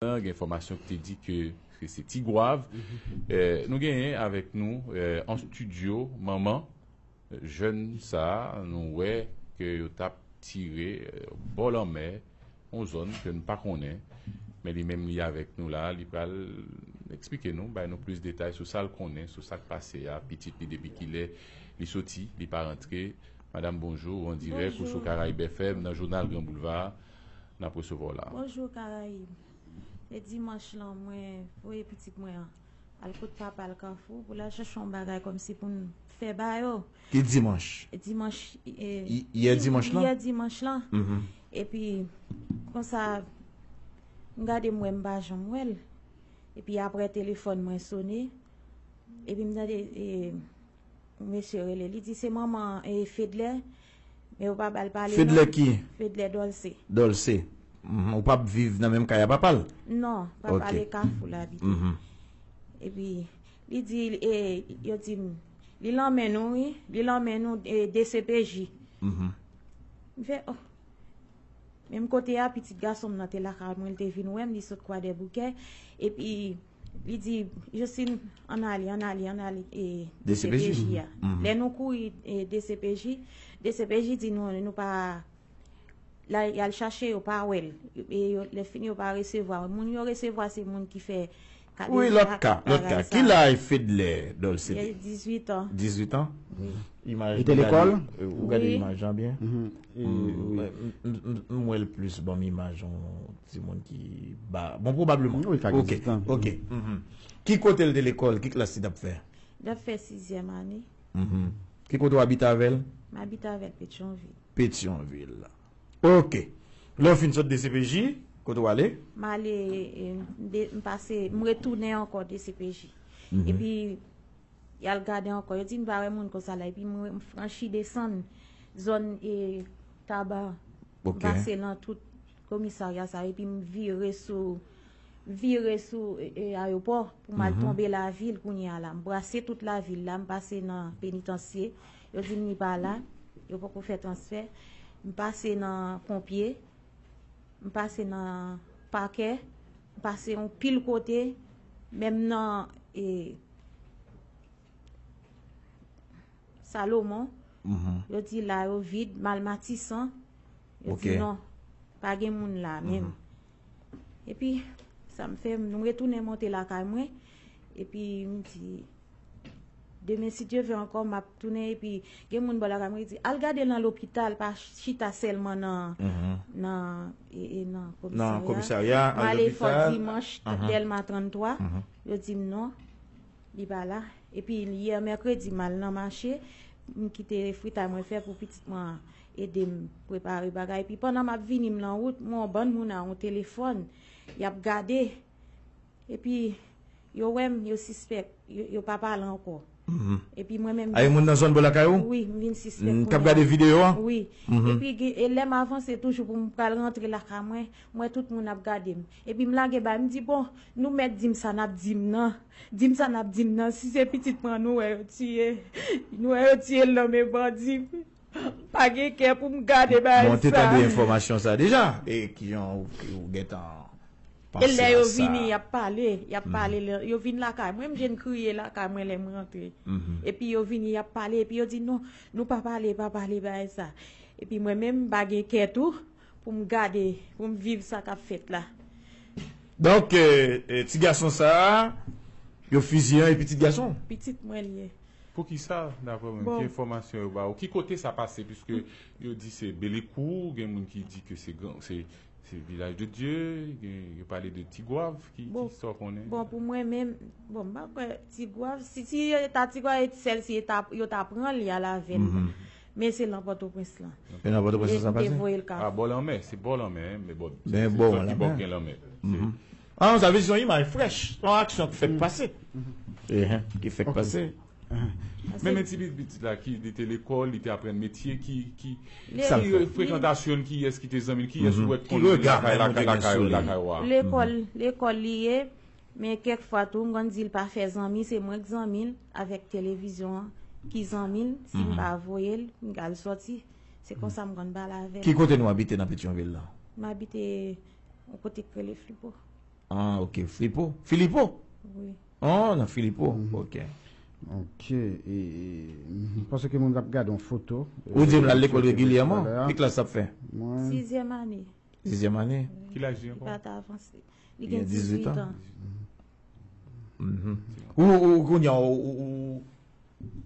Gen enfòmasyon ki te di ke se Tigwav. Nou genyen avèk nou an studio manman jèn sa a nou wè ke yo t ap tire bò lanmè, yon zòn ke nou pa konnen. Men li menm li avèk nou la a, li pral eksplike nou, bay nou plis detay sou sa l konnen, sou sa k pase a, pitit li depi kilè li soti, li pa rantre. Madam bonjou, ou an dirèk, ou sou Caraibes FM nan jounal Gran Boulva a. nap resevwa w la. Bonjour Caraïbe e dimanche lan mwen voye pitit mwen an al kot papal kafou pou lal chèche yon bagay kòmsi poun fè ba yo Ki dimanche? Dimanche yè dimanche lan? Yè dimanche lan epi konsa m gade m wè m pa janm wèl epi aprè telefòn mwen sone epi m tande Mesye rele li di se manman e fedlè men ou pa bal pale non fedlè ki? fedlè dolce dolce ou pap viv nan menm kay a papal? non pap ale kafou la bit epi li di yo dim li lanmen nou wi li lanmen nou dcpj m fè oh menm kote a pitit gasonm nan te lakay mwen li te vin wèm li sot kwadèboukè epi Li di, Josine, ann ale, ann ale, ann ale dcpj a. Lè nou kouri dcpj, dcpj di nou nou pa la, y al chache yo pa wè l. E lè fini yo pa resevwa l. Moun yo resevwa se moun ki fè kade. Wi, lòt ka, lòt ka. Ki laj Fedlè Dolce? Li gen 18 an. 18 an? Wi. Imaj li te lekòl? Ou gade imaj lan byen? Wi. M wè l plis banm imaj yon Ti moun ki ba. Bon pwobableman. Wi ka gen ti tan. Ok. Ki kote l te lekòl? Ki klas li t ap fè? Li t ap fè sizyèm ane. Ki kote w abite avè l? M abite avè l Petyonvil. Petyonvil. Ok. Lè w fin sot dcpj, kote w ale? M ale, m pase, m retounen ankò dcpj. Epi y al gade ankò. Yo di m pa wè moun konsa la. Epi m franchi desann zòn Taba an. M pase lan tout komisarya sa epi m vire sou vire sou ayopò pou m al tonbe lavil kounye a la. M brase tout lavil la, m pase nan penitansye, yo di m li pa la, yo poko fè transfè. M pase nan ponpye, m pase nan pakè, m pase yon pil kote, menm nan e. Salomon, yo di la yo vid, mal matisan, yo di non, pa gen moun la menm. E pi, sa m fè, m retounen monte la kay mwen, e pi m di, demen si Dye vè ankò, m ap tounen, e pi gen moun bò la kay mwen ki di, al gade nan lopital, pa chita sèlman nan, nan, e, e nan komisarya, m ale fò dimanch, dèlma 33, yo di m non. Li pa la. Epi yè mèkredi m al nan mache, m kite fritay mwen fè pou pitit mwen an ede m prepare bagay. Epi pandan m ap vini m nan wout, m wè yon bann moun a yon telefòn, y ap gade. Epi yo wè m, yo sispèk, yo pa pale ankò. Epi mwen menm. A yon moun nan zòn bò lakay ou? Wi, m vin sispèk kounya. K ap gade videyo a? Wi. Epi lè m avanse toujou pou m pral rantre lakay mwen, m wè tout moun ap gade m. Epi m lage bay, m di bon, nou mèt di m sa n ap di m nan. Di m sa n ap di m nan, si se pitit mwen an nou wè yo tiye, nou wè yo tiye l nan men bandi, m pa gen kè pou m gade bagay sa. Bon, w te tande enfòmasyon sa deja? E ki jan ou gen tan panse a sa? E lè yo vini, y ap pale, y ap pale. Yo vin lakay mwen, m jwenn kriye lakay mwen lè m rantre. Epi yo vini, y ap pale, epi yo di non, nou pa pale, pa pale bagay sa. Epi mwen menm, m pa gen kè tou. Pou m gade, pou m viv sa k ap fèt la. Donk, ti gason sa a, yo fiziye an e pitit gason l? Pitit mwen l ye. Poukisa, daprè ou menm, ki enfòmasyon yo ba ou? Ki kote sa pase? Piske yo di se Belekou, gen moun ki di ke se Vilaj de Dye, yo pale de Tigwav. Ki sa ou konnen? Bon, pou mwen menm, bon, m pa kwè Tigwav. Si se ta Tigwav, sèl si yo ta pran li al avè l. Men se lan pòtoprens lan. E lan pòtoprens lan sa pase? Yo voyel kafou. A bò lanmè, se bò lanmè hein, men bon, se zòn ki bò k gen lanmè. An sa vle di se yon imaj frèch, yon aksyon k fèk pase. Ki fèk pase. Men men ti pitit la ki li te lekòl, li te aprann metye ki ki frekantasyon l, kiyès ki te zanmi l, kiyès ou wè k konn lakay lakay ou lakay ou a. Lekòl, lekòl li ye, Men kèk fwa tou m konn di l pa fè zanmi, se mwen k zanmi l avèk televizyon an ki zanmi l, si m pa voye l m ka al sòti, se konsa m konn pale avè l. Ki kote nou abite nan Petyonvil la? M abite yon kote k rele Flipo. Ah ok, Flipo? Filipo? Wi. Oh nan Filipo, ok. Ok, e m panse ke moun ap gade yon foto. Ou di m l al lekòl regilyèman? Ki klas l ap fè? Mwen. Sizyèm ane. Dezyèm ane. Ki laj li ankò? Li gen 18 an. Ou kounye an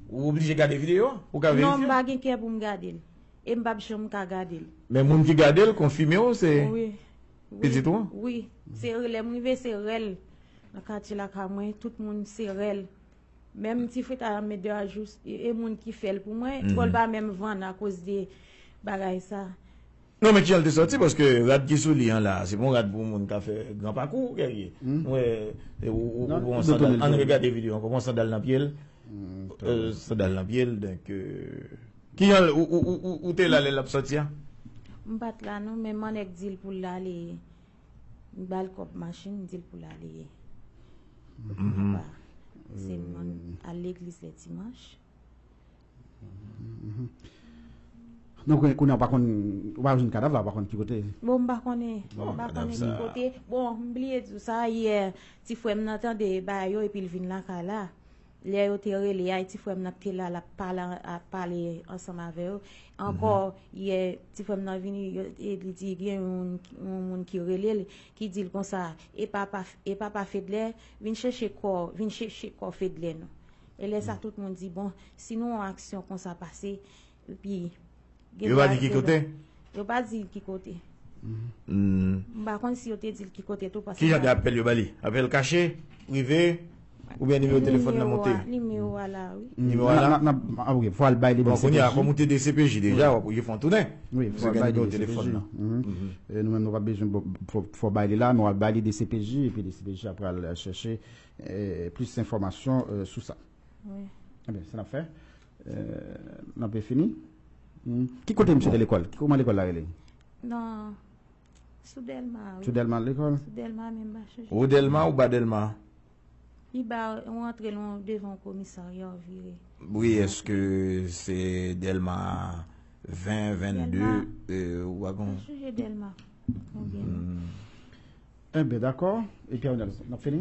ou oblije gade videyo an? Ou ka verifye? Non, m pa gen kè pou m gade l. E m pap janm ka gade l. Men moun ki gade l konfime ou se pitit ou an? Wi. Se lè m rive se rèl. Nan katye lakay mwen tout moun se rèl. Menm ti fritay an met 2 a jou e moun ki fè l pou mwen. Twòl pa menm vann akoz de bagay sa. Non men kijan l te santi paske rad ki sou li an la se pa yon rad pou moun ka fè gran pakou Guerrier m wè ou gen yon sandal ann regade video an ou gen yon sandal nan pye l sandal nan pye l donk kijan l ou te la lè l ap sòti an? M pa t la non men m an nèk di l pou l ale m ba l kòb machin m di l pou l ale m pa se m an al legliz lè dimanch Donk kounye a ou pa konn, ou pa jwenn kadav la, ou pa konn ki kote. Bon m pa konnen, m pa konnen ki kote. Bon, m bliye di w sa, yè ti frè m nan tande bagay yo epi l vin lakay la. Lè yo te rele a, ti frè m nan ki te la l ap pale ansanm avè yo. Ankò, yè ti frè m nan vini e li di gen yon moun ki rele l, ki di l konsa, e papa Fedlè vin chèche kò, vin chèche kò Fedlè nou. E lè sa tout moun di bon si nou yon aksyon konsa pase epi Yo pa di ki kote? Yo pa di ki kote. M pa konn si yo te di l ki kote tou paske Ki jan de apèl yo ba li? Apèl kache? Prive? Oubyen nimewo telefòn nan monte? Nimewo a la wi. Nimewo a la? Ok fò al bay li nan CPJ. Bon kounye a kòm ou te dcpj deja w ap oblije fè yon tounen. Wi fò al bay li nan CPJ. Nou menm nou pa bezwen fò bay li la men w al bay li dcpj epi dcpj a pral chèche Plis enfòmasyon sou sa. Ebyen, sa n ap fè. N ap fini. Ki kote misye te lekòl? Kouman lekòl la rele? Nan Sou Dèlma. Sou Dèlma lekòl? Sou Dèlma menm ba chanje. Wo Dèlma ou ba Dèlma? Pi ba, ou antre lwen ou devan yon komisarya ou vire. Wi, èske se Dèlma 20, 22 ou pa konn? Chanje Dèlma. Konbyen? Enben dakò e Pierre Renalds nap fini?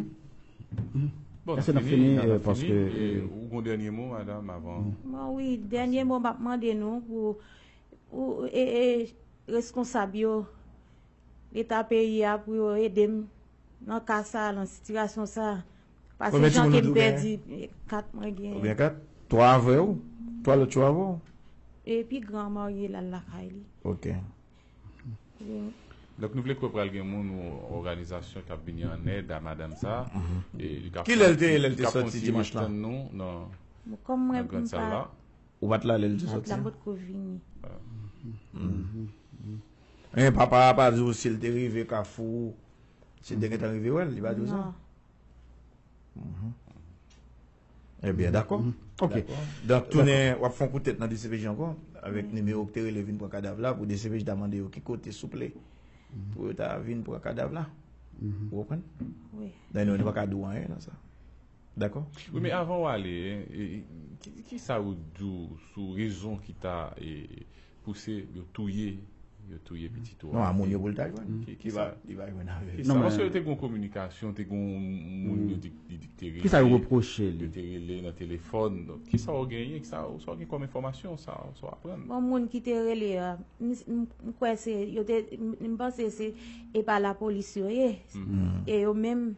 Bon nap fini nap fini e ou gon dènye mo madam avan. Bon wi dènye mo map mande nou pou pou e e reskonsab yo leta peyi a pou yo edem nan ka sa nan sitirasyon sa pase jan kem pèdi 4 mwen gen. Konbyen 4? 3 avèw? 3 lòt yo avèw? E pi gran marye lal lakay li. Ok. Donk nou vle kwè pral gen moun ou òganizasyon k ap vini an èd a madam sa a. Ki lè l te ye lè l te soti dimanch lan? Li ka fon ti mach tann nou nan grann sal la. Ou pa t la lè l te soti an? Mwen pa t la, m pa t ko vini. Men papa a pa di w si l te rive Kafou, si l te gentan rive wè l? Li pa di w sa? Non. Eh byen dakò ok donk tounen wap fon kout tèt nan dcpj ankò avèk nimewo ki te rele vin pran kadav la pou dcpj ta mande yo ki kote souple pou yo ta vin pran kadav la ou konprann donk nou pa ka di w anyen nan sa dakò wi men avan w ale kisa ou di w sou rezon ki ta pouse yo touye yo touye pitit ou a. Non a moun yo pou l ta jwenn. Ki sa li va jwenn avèk sa. Ki sa paske yo te gon kominikasyon te gon moun yo di li te rele. Ki sa yo repwoche li. Yo te rele nan telefòn. Ki sa ou genyen ki sa ou gen kòm enfòmasyon sa ou aprann. Bon moun ki te rele a m kwè se yo te m panse se e pa lapolis yo ye. E yo menm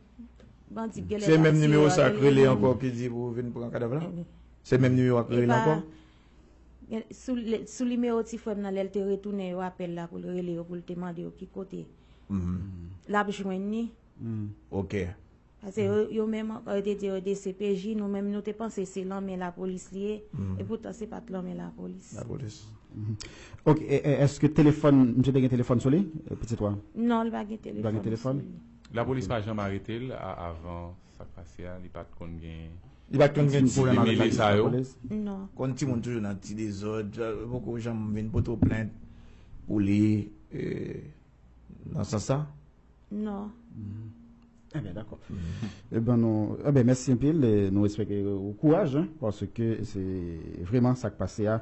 bandi yo genlè pa tiye yo. Se menm nimewo sa yo k rele ankò ki di pou vin pran kadav la. Se menm nimewo yo k rele ankò. Sou nimewo ti frèm nan lèl te retounen yo apèl la poul rele yo poul te mande yo ki kote lap jwenn ni. Ok. Pase yo menm ankò yo te di yo dcpj nou menm nou te panse se lan men la polis li ye epoutan se pat lan men la polis. La polis. Ok eske telefòn misye te gen telefòn sou li pitit ou a? Non li pa gen telefòn. Li pa gen telefòn? La polis pa janm aretel avan sak pase a li pat konn gen. Li pat konn gen ti pwoblèm avèk la jistis Lapolis? Non. Konn timoun toujou nan ti dezòd, li poko janm vin poto plent pou li nan sans sa? Non. Enben dakò. Enben nou, enben mèsi anpil, nou espere ou kouraj paske se vreman sak pase a.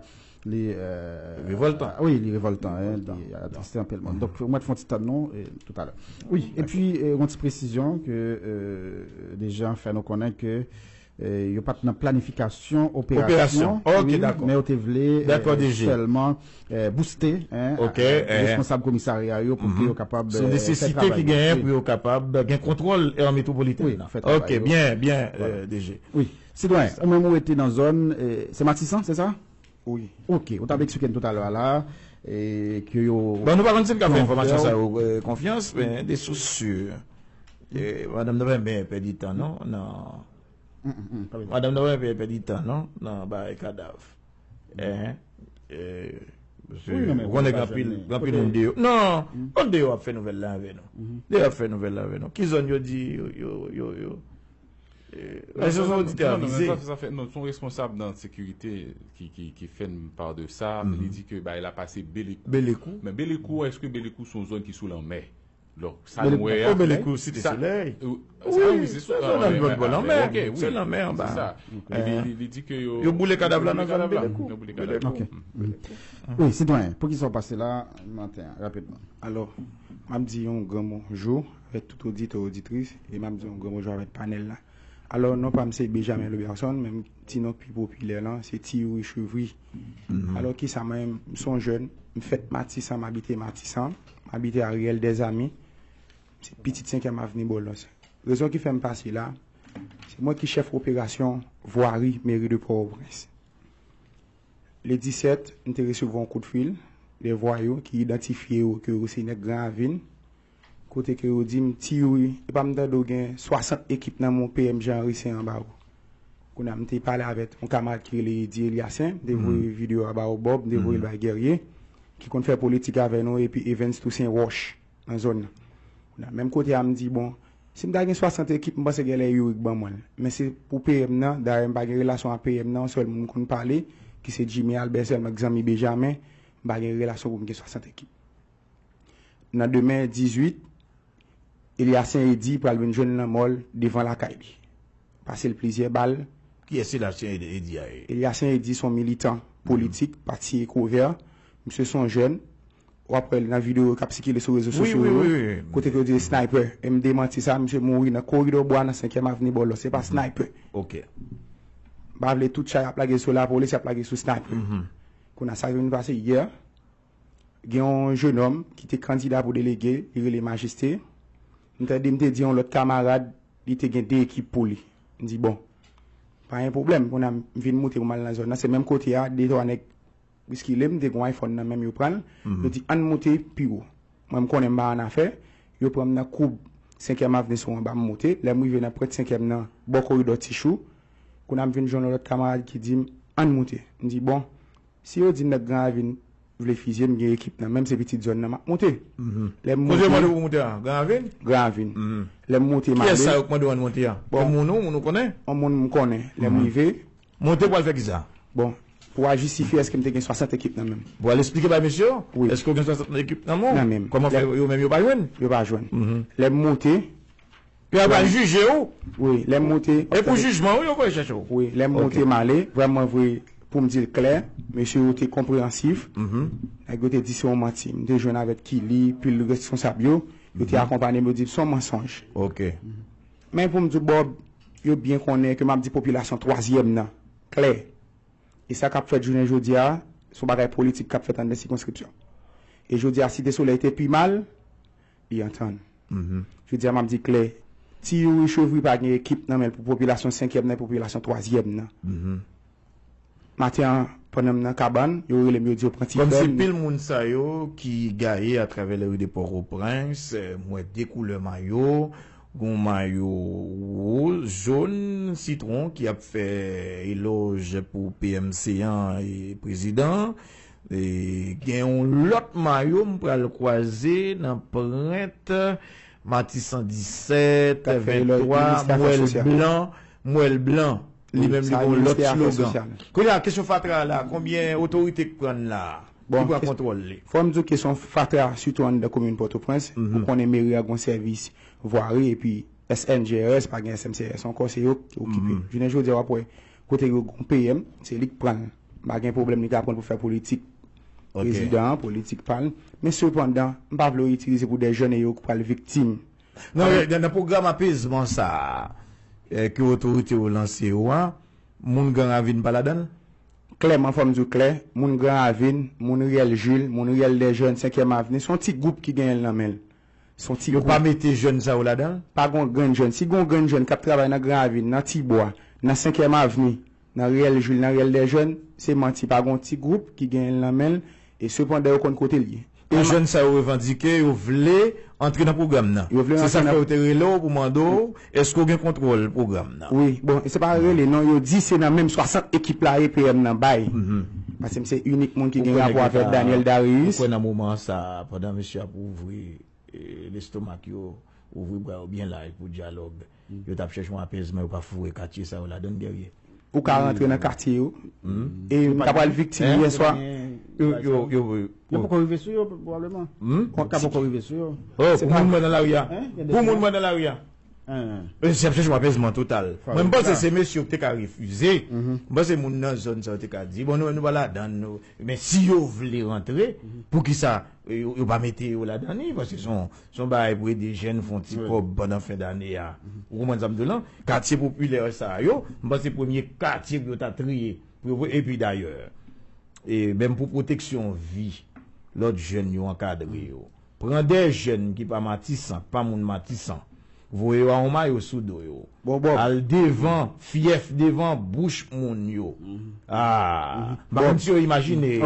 Li revoltan. Oui, li revoltan. Li atriste anpil moun. Donk, mwen te fon ti tann nou, e tout alè. Oui, e pi, yon ti presizyon ke Dejean fè nou konnen ke yo pat nan planifikasyon operasyon. Operasyon. Ok, dakò. Men yo te vle. Dakò, Dejean. Sèlman bouste. Ok. Responsab komisarya yo pou ke yo kapab fè travay. Se nesesite ki genyen pou yo kapab gen kontwòl Air Metropolitan. Oui, fè travay yo. Ok, byen, byen, Dejean. Oui. Sitwayen, ou menm ou rete nan zòn, se Matisan, se sa? Wi. Ok, ou t ap eksplike n toutalè a la, ke yo. Bon, nou pa konn si n ka fè enfòmasyon sa yo konfyans, men de sous si, madanm nan pa renmen pèdi tan non, nan, madanm nan pa renmen pèdi tan non, nan bay kadav. Ou konnen gen anpil, gen anpil moun deyò. Non, kont deyò ap fè nouvèl la avè nou. Deyò ap fè nouvèl la avè nou. Ki zòn yo di yo, yo, yo. Mèsi yon oditè avize. Non, son responsab nan sekirite ki fè n pa de sa, li di ke bagay la pase Belekou. Belekou. Men Belekou, eske Belekou son zòn ki sou lanmè? Donk, sa nou wè a. Belekou, Belekou, Site Solèy. Sa wi, se sou lanmè. Nan bò lanmè. Ok, wi. Se lanmè an ba. Se sa. Li di ke yo. Yo boule kadav la nan zòn Belekou. Yo boule kadav la. Ok. Wi, sitwayen, poukisa ou pase la maten an, rapidman? Alò, m ap di yon gran mo, jou. avèk tout oditè oditris e map di yon gran bonjou avèk panèl la. Alò non pam se Bejamen Loubèson men ti non k pi popilè lan se Ti Youri Chevri. Alò kisa mwen menm m son jèn, m fèt Matisan m abite Matisan, m abite a Riyèl Dèzami, m se pitit senkyèm avni Bòlòs. Rezon ki fè m pase la, se mwen ki chèf operasyon vwari meri de Pòtoprens. Le 17 m te resevwa yon kout fil de vwayou ki idantifye yo ke yo se nèg Gran Ravin, Kote ke yo dim ti youri epa m tande w gen 60 ekip nan men w PM Jean Henry se anba w. Kounye a m te pale avèk yon kamarad ki rele Eddy Eliacin, m te voye video a ba w Bob, m te voye l bay Guerrier ki konn fè politik avè nou epi Evens Toussaint Roche nan zòn nan. Kounye a menm kote a m di bon si m ta gen 60 ekip m panse genlè youri k ban mwen l. Men se pou PM nan, dayè m pa gen relasyon a PM nan yon sèl moun m konn pale ki se Jimmy Albert sèlman k zanmi Bejamen, m pa gen relasyon pou m gen 60 ekip. nan demen 18, Elyasyen Edy pral vin jwenn lanmò l devan lakay li. Pase l plizyè bal. Kiyès Elyasyen Edy a ye? Elyasyen Edy son militan politik pati Ekwovè. Misye son jèn. W ap wè l nan videyo k ap sikile sou rezo sosyo yo, kote ke yo di l snaypè. E m demanti sa. Misye mouri nan koridò bwa nan senkyèm avni Bòlò. Se pa snaypè. M pa vle tout chay ap lage sou lapolis, y ap lage sou snaypè. Kounye a sa ki vin pase yè. Gen yon jenòm ki te kandida pou delege, li rele Majeste. M tande m te di yon lòt kamarad li te gen de ekip pou li. M di bon, pa gen pwoblèm, kounye a m vin moute pou m al nan zòn nan, se menm kote a, de twa nèg bouskile m, m te gen yon iPhone nan men m, yo pran l, yo di ann moute pi wo. Mwen m konnen m pa annafè, yo pran m nan koub senkyèm avni sou anba, m moute, lè m rive nan pwent senkyèm nan, bò koridò Tichou, kounye a m vin jwenn yon lòt kamarad ki di m ann moute. M di bon, Si yo di nèg gran ravin vle fizye m gen ekip nan menm se pitit zòn nan map moute lè m moute gran ravin lè m moute m ale bon yon moun m konnen lè m rive bon pou a jistifye eske m te gen 60 ekip nan menm wi nan menm yo pa jwenn lè m moute. Yo ap al jije ou. Wi, lè m monte. E pou jijman ou yo voye chèche ou. Wi, lè m monte m ale. Vrèman vre, pou m di l klè, mesye yo te konpreyansif. Nèg yo te di se yon manti. M te jwenn avèk Kili, pil reskonsab yo. Yo te akonpanye m, yo di m se yon mansonj. Men pou m di w Bob, yo byen konnen ke m ap di popilasyon twazyèm nan klè. E sa k ap fèt jounen jodi a, se yon bagay politik k ap fèt anndan sikonskripsyon. E jodi a Site Solèy te pi mal li antann. Jodi a m ap di klè, ti Youri Chevry pa gen ekip nan men l pou popilasyon senkyèm nan e popilasyon twazyèm nan. Maten an, pandan m nan kabann, yo rele m, yo di yo pran ti frè m. Kòmsi pil moun sa yo ki gaye atravè lari de Pòtoprens, m wè de koulè mayo, gon mayo woz, jòn, sitwon ki ap fè elòj pou PM Céant e prezidan an. Gen yon lòt mayo m pral kwaze nan prent Matisan 17, 23, m wè l blan, m wè l blan. Li menm li gen yon lòt slogan. Kounye a kesyon fatra a la, konbyen otorite k pran l la a? Ki pran kontwòl li? Fò m di w kesyon fatra a sitou anndan komin Pòtoprens, ou konnen meri a gen yon sèvis vwari epi SNGRS, pa gen SMCRS ankò, se yo ki okipe. Jounen jodi a w ap wè kote gen yon PM, se li k pran l. m pa gen pwoblèm li ka pran l pou fè politik prezidan an, politik pa l. Men sepandan, m pa vle yo itilize pou dè jèn e yo k pral viktim. Nan rèl, nan pwogram apezman sa a ke otorite yo lanse yo a, moun Gran Ravin pa ladan l? Klèman, fò m di w klè, moun Gran Ravin, moun Riyèl Jil, moun Riyèl Dèjèn, Senkyèm Avni, se yon ti gwoup ki genyen l nan men l. son ti Yo pa gwoup. mete jèn sa yo ladan l? Pa gon grenn jèn. Si gon grenn jèn k ap travay nan Gran Ravin, nan Ti Bwa, nan Senkyèm Avni, nan Riyèl Jil, nan Riyèl Dèjèn, se manti. Pa gon ti gwoup ki genyen l nan men l e sepandan yo konn kote l ye. E jèn sa yo revandike yo vle antre nan pwogram nan. Yo vle Se sa rantre k fè nan yo te rele w pou mande w Eske w gen kontwòl pwogram nan? Wi, bon se pa rele non, yo di se nan menm 60 ekip la EPM nan bay. Pase m se inik moun ki gen rapò avèk Daniel Darius. Ou kwè nan moman sa a, pandan mesye ap ouvri lestomak yo, ouvri bra yo byen laj pou dyalòg, yo t ap chèche yon apèzman, yo pa foure katye sa yo ladan l, Guerrier? ou ka rantre nan katye yo e yo ta pral viktim yè swa. Yo poko rive sou yo pwoblèman. Yo ka poko rive sou yo. Oh pou moun mwen nan lari a. Pou moun mwen nan lari a. Mwen se ap chèche yon apèzman total. Mwen panse se mesye yo ki te ka refize. Mwen panse moun nan zòn sa yo te ka di bon nou pa ladann nou. Men si yo vle rantre poukisa yo pa mete yo ladann li paske son Se yon bagay pou ede jèn fè yon ti kòb pandan fen dane a. Ou konprann sa m di w lan? Katye popilè sa yo, m panse premye katye pou yo ta triye. Epi dayè, menm pou pwoteksyon vi lòt jèn yo ankadre yo. Pran de jèn ki pa Matisan, ki pa moun Matisan, Voye yo a on mayo sou do yo. Al devan fyèf devan bouch moun yo. Aah. M pa konn si yo imajine,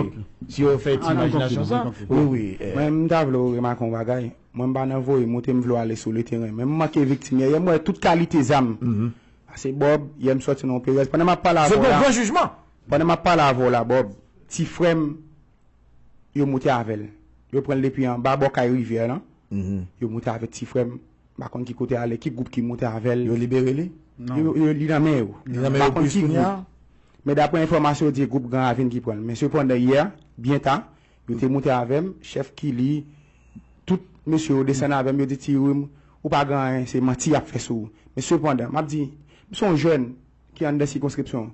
si yo fè ti imajinasyon sa. Wi wi. Mwen m ta vle ou remake yon bagay. Mwen m pa nan voye moute m vle w ale sou le teren. Men m manke viktim yè. Yè m wè tout kalite zam. Pase Bob, yè m soti nan yon perèz. Pandan m ap pale avè w la. Se pa yon gran jijman. Pandan m ap pale avè w la Bob, ti frè m yo moute avèl yo pranl depi anba bò kay rivyè lan yo moute avèk ti frèm m pa konn ki kote ale ki gwoup ki moute avèl yo libere li li nan men yo m pa konn ki gwoup men daprè enfòmasyon yo di gwoup gran ravin ki pranl men sepandan yè byen ta yo te moute avèm chèf kili tout mesye yo desann avèm yo di ti youri ou pa gen anyen se manti yap fè sou ou men sepandan map di m son jèn. ki anndan sikonskripsyon an.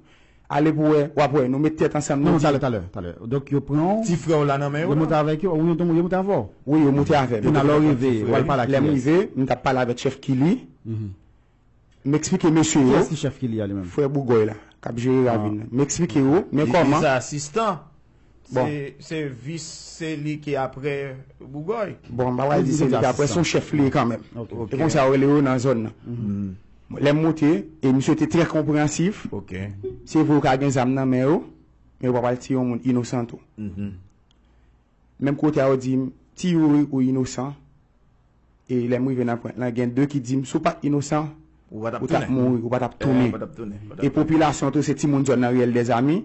Ale pou wè, w ap wè. Nou met tèt ansanm, nou di. Talè, talè, talè. Donk yo pran w. Ti frè w la nan men yo la. Yo monte avèk yo? Ou yo moute avè w? Wi, yo moute avè m. Jounal la ou rive, w al pale ak kiyès? Lè m rive, m t ap pale avèk chèf Kili. M eksplike mesye yo. Kiyès ki chèf Kili a li menm? Frè Bougòy la, k ap jere ravin nan. M eksplike yo, men kòman. Li te asistan. Se vis se li ki apre Bougoy. Bon bagay li di se li ki apre son chèf li ye kanmenm. E konsa yo rele yo nan zòn nan. Lè m moute e misye te trè konpransif. Se vre yo ka gen zam nan men yo, men yo pa pral tiye yon moun inosan tou. Menm kote a yo di m ti youri ou inosan. e lèm rive nan pwent lan gen 2 ki dim si w pat inosan ou tap mouri ou patap tounen e popilasyon tou se timoun zòn nan riyèl dèzami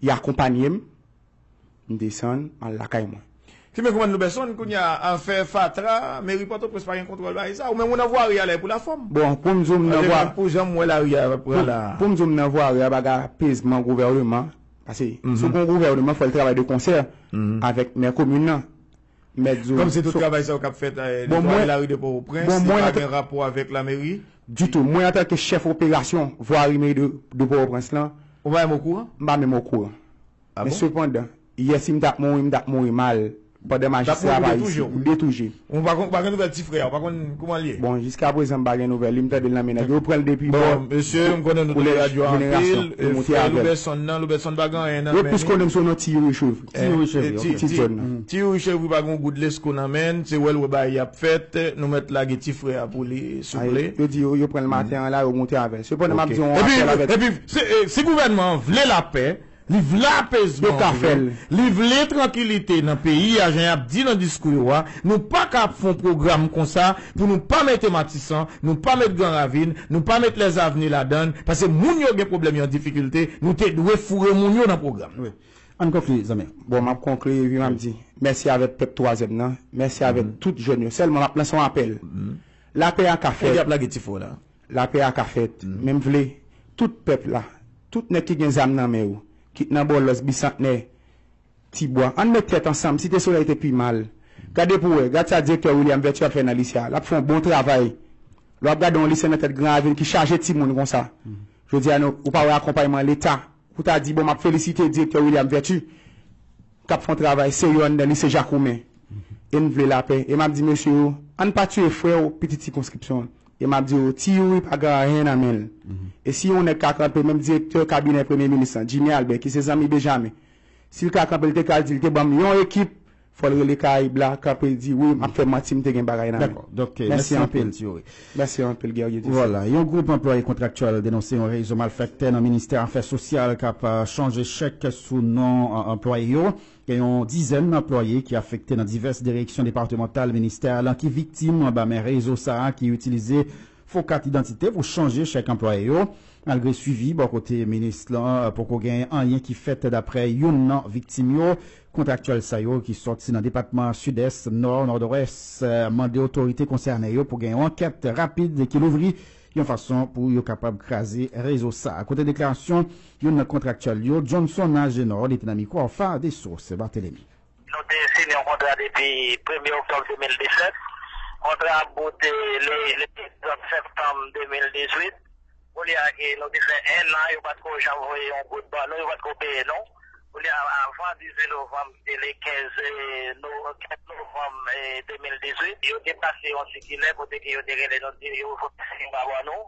y akonpanye m m desann m al lakay mwen. Fimen koumann Loubeson, kounya afè fatra, meri pòtoprens pa gen kontwòl bagay sa, ou menm ou nan vwari a lè pou la fòm. Bon poum di w m nan vwa Andevan pou janm wè lari a ap pran la. Poum di w m nan vwari a bagay apezman gouvèneman pase si w gon gouvèneman fòl travay de konsè avèk mè komin nan mèt di w. Kòmsi tout travay sa yo k ap fèt netwaye lari de Pòtoprens, li pa gen rapò avèk lameri? Ditou. Mwen antanke chèf operasyon vwari meri de Pòtoprens lan. Ou pa menm okouran? M pa menm okouran. A bon? Men sepandan, yè si m t ap mouri, m t ap mouri mal pandan majistra a pa isi. M detouje. Ou pa gen nouvèl ti frè a? Ou pa konn kouman l ye? Bon, jiskaprezan m pa gen nouvèl li. M tande l nan men nèg yo. Yo pran l depi bò kolèj jenerasyon. Yo monte avè l. Yo plis konnen m sou non ti Youri Chouv. Ti youri chevri pa gen yon gout lesko nan menn se wèl wè bagay yap fèt nou mèt lage ti frè a pou li souple. Yo di yo pranl maten an la yo moute avèl. Sepandan map di yon afè la vèt. Epi si gouvènman an vle lapè, li vle apezman pou yo, li vle trankilite nan peyi a jan yap di nan diskou yo a, nou paka ap fè yon pwogram konsa pou nou pa mete matisan, nou pa met gran ravin, nou pa met lèzavni ladann, pase moun yo gen pwoblèm yo an difikilte, nou te dwe foure moun yo nan pwogram nan. Ann konkli zanmi. Bon map konkli ui map di mèsi avèk pèp twazyèm nan mèsi avèk tout jèn yo sèlman map lanse yon apèl lapè a ka fèt lapè a ka fèt men m vle tout pèp la tout nèg ki gen zam nan men yo kit nan bòlòs bisantnè ti bwa ann met tèt ansanm site solèy te pi mal gade pou wè gad sa direktè William Vertu ap fè nan lise a lap fè yon bon travay lè wap gade yon lise nan tèt gran ravin ki chaje timoun konsa jodi a nou ou pa wè akonpayman leta Ou ta di, bon, m ap felisite Direktè William Vertu k ap fè yon travay serye anndan Lise Jakoumen e n vle lapè. E m ap di mesye yo, ann pa tiye frè yo, pitit sikonskripsyon an. E m ap di yo, Ti Youri pa gen anyen nan men l. E si yon nèg ka kanpe, menm Direktè Kabinè Premye Minis lan, Jimmy Albert, ki se zanmi Bejamen, si l ka kanpe, l te pral di l te ban m yon ekip Fòl rele karayib la kanpel di wi map fè manti mte gen bagay nan men. Mèsi anpil. Mèsi anpil Guerrier Dieuseul. Vwala, yon gwoup anplwaye kontraktyèl denonse yon rezo malfèktè nan ministè afè sosyal k ap chanje chèk sou non anplwaye yo. Gen yon dizèn anplwaye ki afekte nan divès direksyon departemantal ministè a lan ki viktim anba men rezo sa a ki itilize Fo kat idantite pou chanje chèk anplwaye yo. Malgre swivi bò kote minis lan, poko gen anyen ki fèt daprè youn nan viktim yo. Kontraktyèl sa yo ki sòti nan depatman Sidès, Nò, Nòdwès mande otorite konsène yo pou gen yon ankèt rapid ki louvri yon fason pou yo kapab kraze rezo sa. Kote deklarasyon youn nan kontraktyèl yo, Johnson Agenor, li te nan mikwo Alpha Dessources. Barthelemy. Nou te sine yon kontra depi premye oktòb 2017. Kontra a boute le 30 septanm 2018. Koulye a ke nou te fè ennan yo pat ko janm voye yon goud ban nou, yo pat ko peye nou. Koulye a avan 18 novanm ki te le 15 novanm 2018, yo te pase yon sikilè kote ke yo te rele nou di yo voye yon goud ban nou.